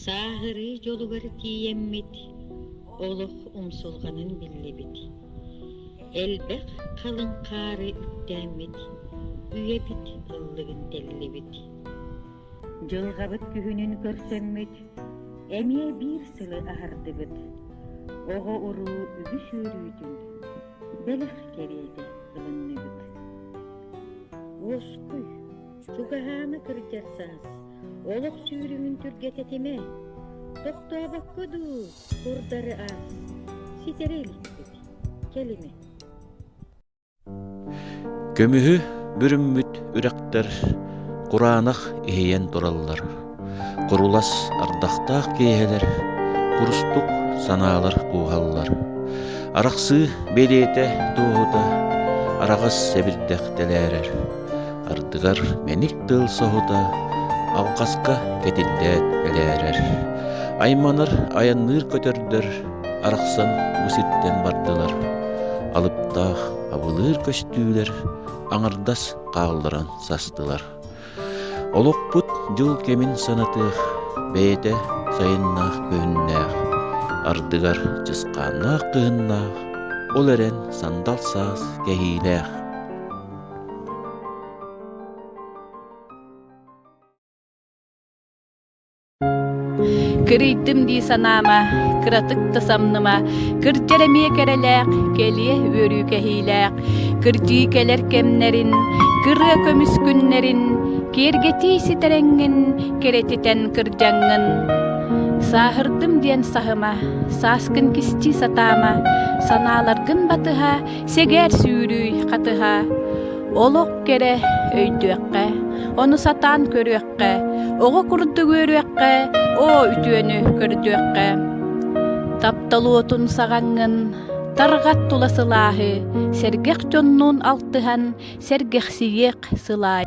Сааһырыы дьолугар тиийэммит, олох умсулҕанын биллибит. Элбэх халыҥ хаары үктээммит, үйэбит ыллыгын тэллибит. Дьылҕабыт күһүнүн көрсөммүт, эмиэ биир сылы аһардыбыт. Оҕо-уруу үгүс үөрүүтүн, бэлэх кэриэтэ ылынныбыт. Уоскуй, Чугаһаама кырдьарсаас, олох сүүрүҥүн түргэтэ этимэ. Тохтообокко дуу, курдары аас, ситэрэ иликпит, кэлимэ. Көмүһү бүрүммүт үрэхтэр кураанах иһийэн тураллар. Курулас ардахтаах киэһэлэр, курустук санаалар кууһаллар. Арахсыы бэлиэтэ дуоһута араҕас сэбирдэх тэлээрэр. Ардыгар мэник тыл соһута алҕаска кэтиллээт элээрэр. Айманар айанныыр көтөрдөр арахсан бу сиртэн бардылар. Алыптаах абылыыр көстүүлэр аҥардас хаалларан састылар. Олохпут дьыл кэмин санатыах, бэйэтэ сайыннаах күһүннээх, ардыгар чысхааннаах кыһыннаах, ол эрэн сандал саас кэһиилээх. Кырыйтым дии санаама, кыратык да самныма, кырдьар эмиэ кэрэлээх, кэлиэ үөрүү кэһиилээх, кырдьыы кэлэр кэмнэрин, кырыа көмүс күннэрин, киэргэтии ситэрэҥҥин кэрэтитэн кырдьаҥҥын. Сааһырдым диэн саһыма, сааскын кистии сатаама, санааларгын батыһа, сэгээр сүүрүү хатыһа. Олох кэрэ өйдүөххэ, ону сатаан көрүөххэ. көрдүөххэ, оҕо курдук үөрүөххэ, оо үтүөнү көрдүөххэ. Таптал уотун саҕаҥҥын, тарҕат тула сылааһы, сэргэх дьоннуун алтыһан, сэргэхсийиэх сылаай.